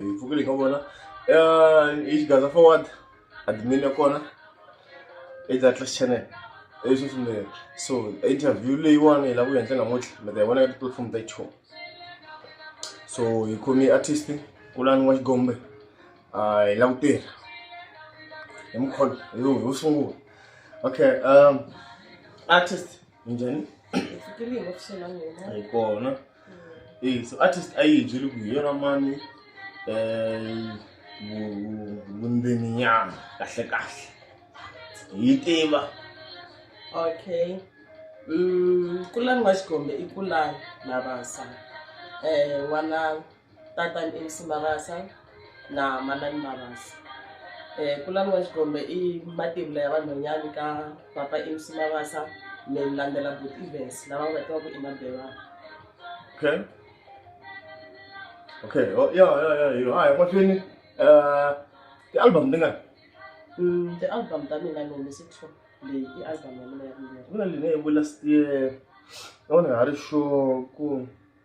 hi pfukile hi nga vona hi xigaza forward admin ya kona i Atlas channel i swi swinene so interview leyiwani hi lava ku endla namuntlha mi ta yi vona ka tipulatifomo ta show so hi khome artist kulani wa xigombe hi lava ku tirha hi mukhono hi sungula okay um artist njhani fikile hi ofisini ya n'wina hi kona Eh, so artist a yi byeli ku hi yona mani eh, vu- vundzeni nyana kahle kahle hi yi tiva okay mm, kulani wa xikombe i kulani na vasa eh, wananga tatani Elsie Mabasa na manana Mabasa kulani wa Xikombe i mativula ya vanhwanyani ka papa Elsie Mabasa ni landzela buti Evans lava nga tivaku i Mabelani okay okay oh, ya ya ya yo hayi mahlweni eh ti-album tingani mm, ti-album ta mina ni humese two leyi i album ya mina ya ku na leyi ne yi vu last year yona ha ri sure ku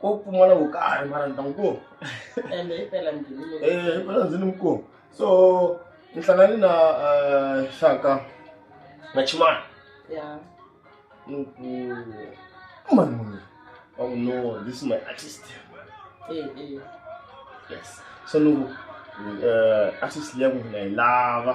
ko pfumala wo karhi mara ni ta n'wi kuma ende hi pela njhini um pela ndzi ni mi kuma so ni hlangani na um xaka na chimani ya ni ku mani munhu wa ku no this is my artist eh eh yes so ni ku um artist leyi ya n'wina hi lava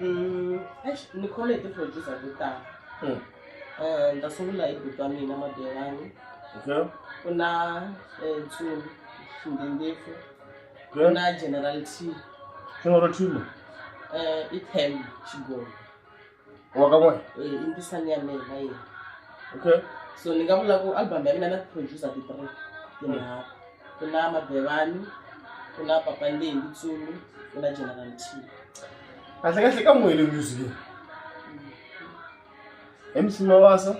Mm, eish, ni khole hi ti-producer to tala Mm. Eh, ni ta sungula hi buti wa mina madelani Okay. ku na eh, ntsumi xindindefo ku Okay. na general t General Timo. eh, i tem xigogo Wa ka n'we. Eh, i ntisani ya mina na yena Okay. so ni nga vula ku album ya mina na ti-producer ti-three tinharhu kuna mabevani kuna papa ndendi tsumi kuna general t kahle kahle ka n'wele music leyi mc mawasa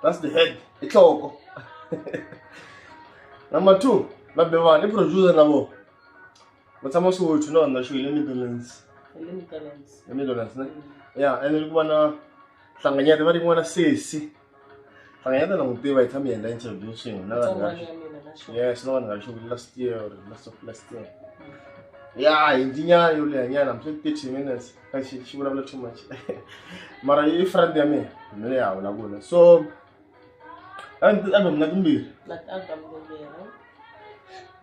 that's the head i nhloko number two mabevani i producer na vona va tshama swothu na vanhu na xo hi le midlands le mitalens le midlands ne ya ene loko vana hlanganyete va ri n'wana sesi Sanganyana na n'wi tiva hi tshame hi endla interview swin'we na vanhu va yes na vanhu va xo last year or last of last year ya hi ndinyana yo leha nyana mse thirty minutes ka xi xi vulavula too much mara yi friend ya mina ni le ha vulavula so album na timbirhi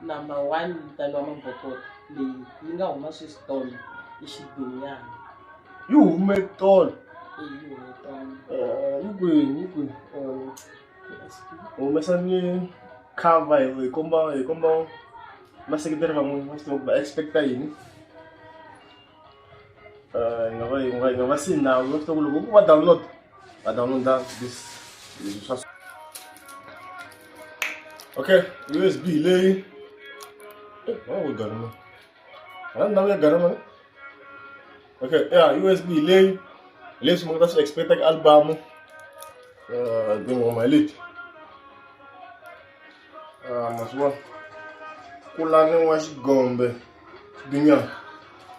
number one vitaniwa mabokoti leyi yi nga huma sweswi tolo i xibinyana yi hume tolo yi hume tolo eh, yi kwini yi kwini eh, humesa ni cover hi komba hi komba vaseketeri van'wini va swi tiva ku va expect-a yini Eh, nga va yi nga yi nga va si nawu va fita ku loko va download va downloada this leswi swa okay usb leyi Eh, wa ku garama a ndhawu ya garama ne? okay ya usb leyi leswi mi nga ta swi expecta ka album Eh, tinghoma hi leti Ah, ma swi vona ku laviwa xigombe xibinyana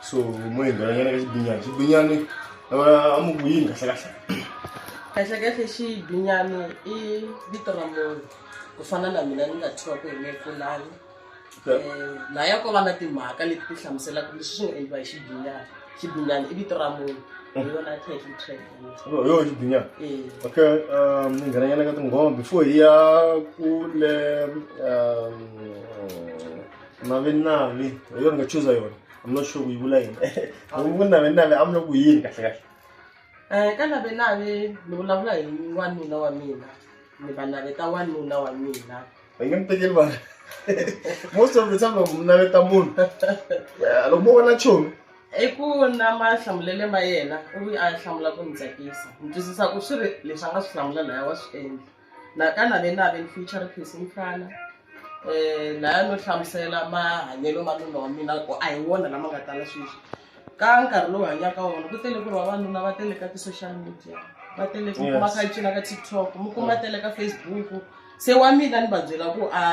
so mo hi nghenanyana ka xibinyana xibinyani ah, a mu ku yini kahlekahle kahlekahle xibinyani i vito ra munhu ku fana na mina ni nga thyiwa ku hi mekulani laya ko va na timhaka leti ti hlamuselaka leswi swi nga endliwa hi xibinyana xibinyana i vito ra munhu hi yona title track yo yo xibinya Eh, okay um ni nghenanyana ka tinghoma before hi ya kule um navenavi hi yona ni nga chuza yona i'm not sure ku yi vula yini loko ku navenavi a mi loko yini kahle kahle eh, ka navenave ni vulavula hi wanuna wa mina ni va naveta wanuna wa mina va nge mi tekeli vanhu most of the time loko mi naveta munhu Ya, loko mo vona chomi i ku na mahlamulele ma yena u vi a hlamula ku ni tsakisa ni twisisa ku swi ri leswi a nga swi hlamula laya wa swi endla nakana ve na ve ni future face mfana um laya no hlamusela mahanyelo ma nuna wa mina ku a hi wona lama nga tala sweswi ka nkarhi lowu hanyaka wona ku tele ku ri vavanuna va tele ka ti-social media va tele ku kuma kha cina ka tiktok mi kuma tele ka facebook se wa mina ni va byela ku a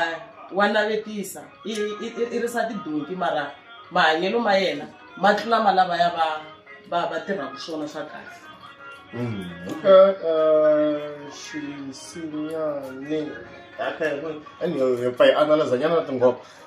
wa navetisa i risa tidonki mara mahanyelo ma yena ma tlula ma lava ya va va va tirhaka swona swa kahle mm, okay uh, xisinyane okay anyway hi pfa hi analyza nyana na tingoba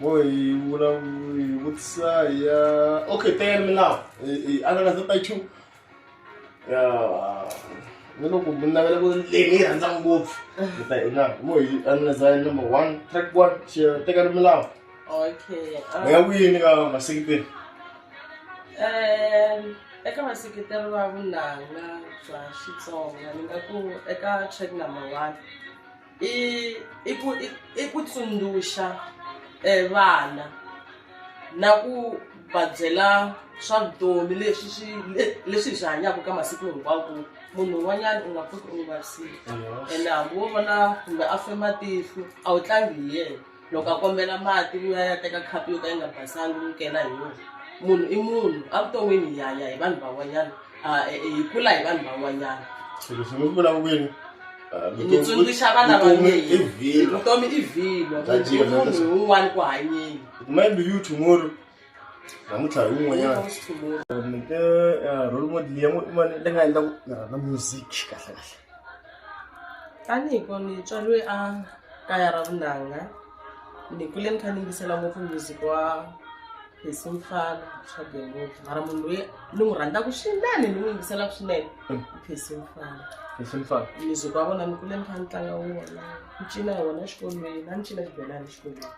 Boy, hi vula hi vutisa hi ya okay teyani milawu hi hi anakanya ta two ya ni loko mi navela ku leyi ni yi rhandza ngopfu mi ta hi na mo hi anakanya hi number one track one xi tekani milawu okay ah. mi nga kwini ka masekiteri Em, eka vaseketeri va vunanga bya xitsonga ni nga ku eka track number one i i ku i i ku tsundzuxa um vana na ku va byela swa vutomi leswi swi le- leswi hi swi hanyaka ka masiku hinkwawo ku munhu un'wanyana u nga pfuki u n'wi vavisile ene hambi wo vona kumbe a fe matihlo a wu tlangi hi yena loko a kombela mati loyi a ya teka khapu yo ka yi nga basangi n'wi kela hi yona munhu i munhu evuton'wini hi hanya hi vanhu van'wanyana e, e, hi kula hi vanhu van'wanyana swilo swi n'wi vula kwini ni tsundzuxa vana va mina vutomi i vhilo munhu un'wana ku hanyeni maybe you tomorrow namuntlha hi wun'wanyana nike eh, role model ya n'wani leyi nga endla ku ni rhandza music kahle kahle tanihi ko ni tswariwe a kaya ra vunanga ni kule ni kha ni yingisela ngopfu music wa hesi mfana swabe ngopfu mara munhu loyi ni n'wi rhandzaka swinene ni n'wi yingiselaka swinene i phesi mfana hesi mfana music wa vona ni kule ni kha ni tlanga wona ni cina hi wona exikolweni a ni cina xibelani exikolweni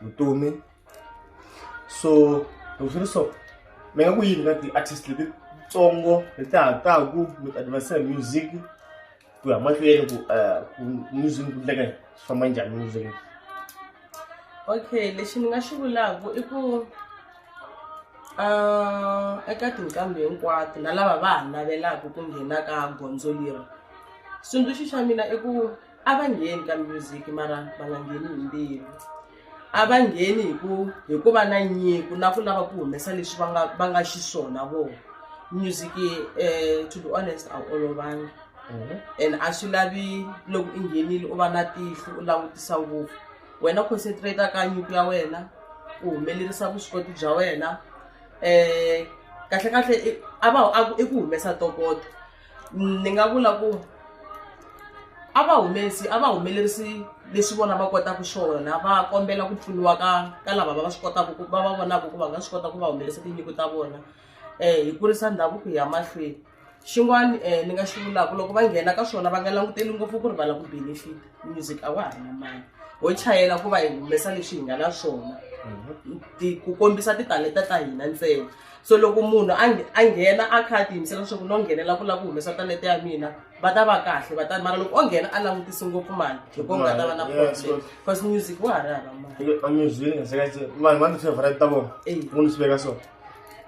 vutomi so loko swi ri so mi nga ku yini ka ti-artist letitsongo leti ha taku with adversary music ku ya mahlweni ku eh, ku music ku ndleka swi famba njhani music okay lexi ni nga xi vulaku i ku um eka tinqambi hinkwato na lava va ha navelaka ku nghena ka gondzo leri xitsundzuxo xa mina i ku a va ngheni ka music mara va nga ngheni hi mbilu a va ngheni hi ku hi ku va na nyiko na ku lava ku humesa leswi va nga va nga xiswona vona music um to be honest a wu olovangi mhm. and a swi lavi loko i nghenile u va na tihlo u langutisa ngopfu wena concentrate ka nyiko ya wena u humelerisa vuswikoti bya wena um kahle kahle a va i ku humesa tokoto ni nga vula ku a va humesi a va humelerisi leswi vona va kotaka swona va kombela ku pfuniwa ka ka lava va va swi kotaka ku va va vonaka ku va nga swi kota ku va humelerisa tinyiko ta vona um hi kurisa ndhavuko hi ya mahlweni xin'wana um ni nga xi vulaka loko va nghena ka swona va nga languteli ngopfu ku ri va la ku benefit music a wa ha na mali ho chayela ku va hi humesa leswi hi nga na swona ku kombisa titalenta ta hina ntsena so loko munhu a a nghena a kha a tiyimisela leswaku no nghenela ku lava ku humesa talete ya mina va ta va kahle va ta mara loko o nghena a langutisi ngopfu mali hi ko nga ta va na problem because music wa ha ri hava malimusic vanhu va ni favorite ta vona ku ni swi veka so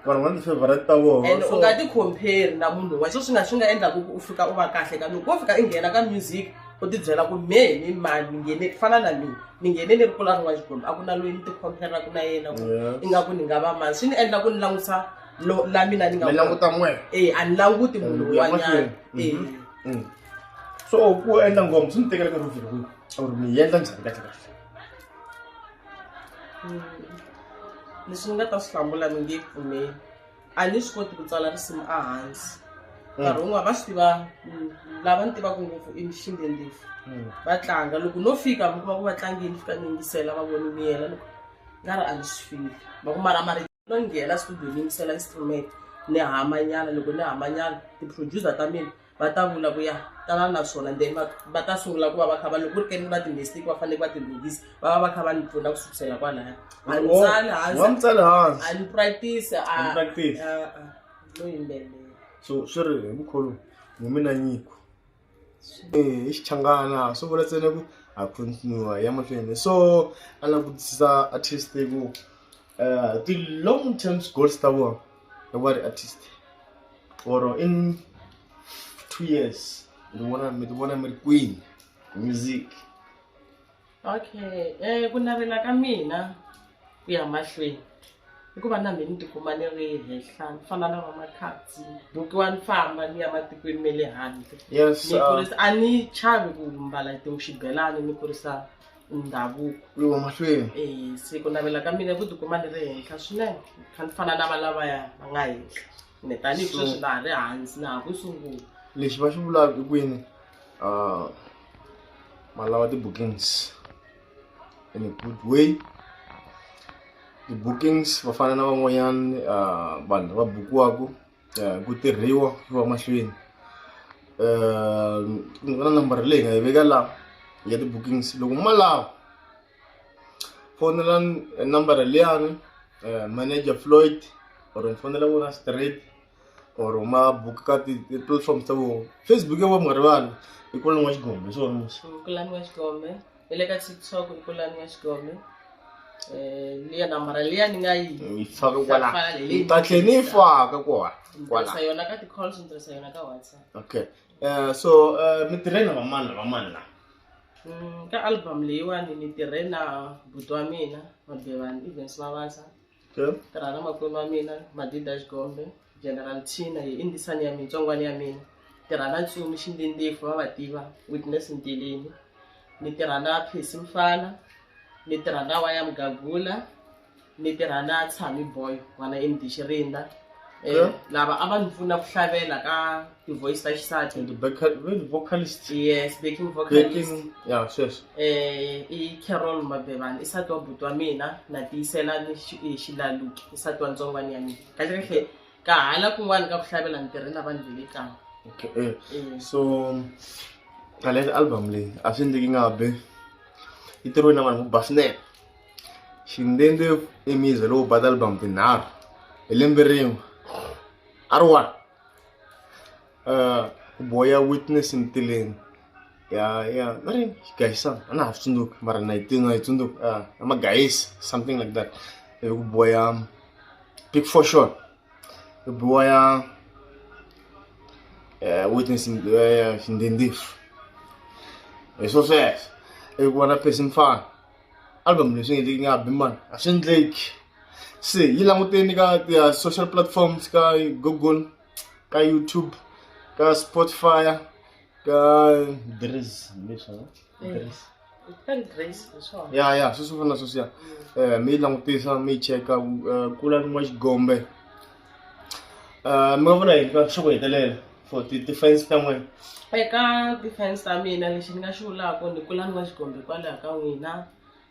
vanhu va ni favorite ta vona and u nga ti compare na munhu wa so swi nga swi nga endlaku ku u fika u va kahle ka loko wo fika i nghena ka music u tibyela ku mehe ni mani ni nghene ku fana na mina ni nghene ni ri kula rin'wana xikwembu a ku na loyi ni tikhompheraku na yena ku Yes. ingaku ni nga va mani swi ni endla ku ni langutisa lo- la mina ni nga mi languta n'we e a ni languti munhu Ku ya un'wanyana mahlweni. e Mhm. Mm. so ku endla ngoma swi ni tekela nkarhi wo fika kwihi or mi yi endla njhani kahle kahle leswi ni nga ta swi hlamula mi nge pfumeli a ni swi koti ku tsala risimu ehansi mm. nkarhi wun'wana va swi tiva mm, lava ni tivaka ngopfu i mixinde ndefu mm. va tlanga loko no fika mi kuma ku va tlangini fika ni yingisela va voni miyela loko nga ri a ni swi fili va ku mara mari no nghena studio ni yingisela instrument ni hamanyana loko ni hamanyana ti-producer ta mina va ta vula ku ya tala na swona then va va ta sungula ku va va kha va loko ku ri keni va ti-mistake va faneleke va tilunghisa va va va kha va ni pfuna ku sukusela kwalaya a ni Wo- tsali wa mi hansi tsale hansi a ni practice a A ni practice. a- a, no yimbelela so swi ri hi mukholo mu mina nyiko Eh, i xichangana swi vula ntsena ku ha continue ya mahlweni so a langutisa artist ku uh, ti long term goals ta vona i va ri artist or in two years ni vona mi ti vona mi ri kwini music okay um ku navela ka mina ku ya mahlweni hikuva na mina ni tikuma ni ri henhla ni fana na vamakhatsi bukiwa ni famba ni ya matikweni ma le handle ni uh, kurisa a ni chavi ku mbala tinxibelani ni kurisa ndhavuko lowa mahlweni e se ku navela ka mina ku tikuma ni ri henhla swinene kha ni fana na va lavaya va nga henhla ni tanihi sweswi na ha ri hansi na ha ku sungula lexi va xi vulaka i kwini um malava ti-bookings in a good way ti-bookings va fana na van'wanyana um vanhu lava bukiwaka eh, ku tirhiwa ku va mahlweni um ni vona nambara leyi nga yi veka la ya ti-bookings loko ma lava fonela nambara liyani eh, manager floyd or mi fonela vona straight or ma book ka ti-platforms ta vona facebook ya va mi nga rivali i kulani wa xigombe hi swona musi kulani wa xigombe hi le ka tiktok i pulani ya xigome um liya nambara liya ni nga yi yi faka kwala Faka leyi. yi ta tlhe ni yi faka kwa ni kwala tirhisa yona ka ti-calls ni tirhisa yona ka whatsapp okay Eh, so eh, mi tirhe na vamani na vamani la Mm, ka album leyiwani ni tirhe na buti wa mina mabevani evens mavasa Sure. tirha na makwenu wa mina madida xikombe general china hi indisani ya mina tsongwana ya mina tirha na tsumi xindindifo va va tiva witness ntilini ni tirha na phesi mfana ni tirha na waya mugagula ni tirha na tshami boy n'wana emdixirinda Eh, lava a va ni pfuna ku hlavelela ka ti-voice ta xisati and the vocal, the vocalist yes backing vocalist backing yeah sweswo eh i carol mabevani i sati wa buti wa mina na tiyisela ni xi- i xilaluki i sati wa ntsongwani ya mina kahle kahle ka hala kun'wana ka ku hlavelela ni tirhe na vanhu ve le kaya okay eh. Eh, so ngaleyo album leyi a swi endleki nga be yi tirhiwe na vanhu vo ba swinene shindende emize loko ba ti-album tinharhu hi lembe rin'we a ri one um ku boya witness ntileni ya ya a ri gayisana a na ha swi tsundzuki mara na yi tina yi tsundzuki um ya magayisi something like that ivi ku boya big for sure ku boya um witness shindende hi swo sweswo ivi ku va na person mfana album leswi nge nga bi man a swi endleki se yi languteni ka ti social platforms ka google ka youtube ka spotify ka dres leswa dres ya ya sweswo fana sweswiya um mi yi langutisa mi yi cheka eh, kula ni n'wa xigombe Ah, mi nga vona yini ka swa ku hetelela for ti-defense ta n'wina eka defense ta mina lexi ni nga xi vulaka ni kula ni nga xikombe hikwalaho ka n'wina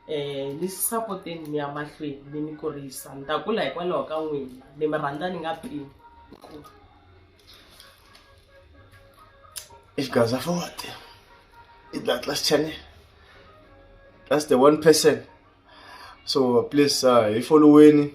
um ni sapoteni ni ya mahlweni ni ni kurisa ni ta kula hikwalaho ka n'wina ni mi rhandza ni nga pimi i xigaza forte i the atlas channel that's the one person so please uh, hi foloweni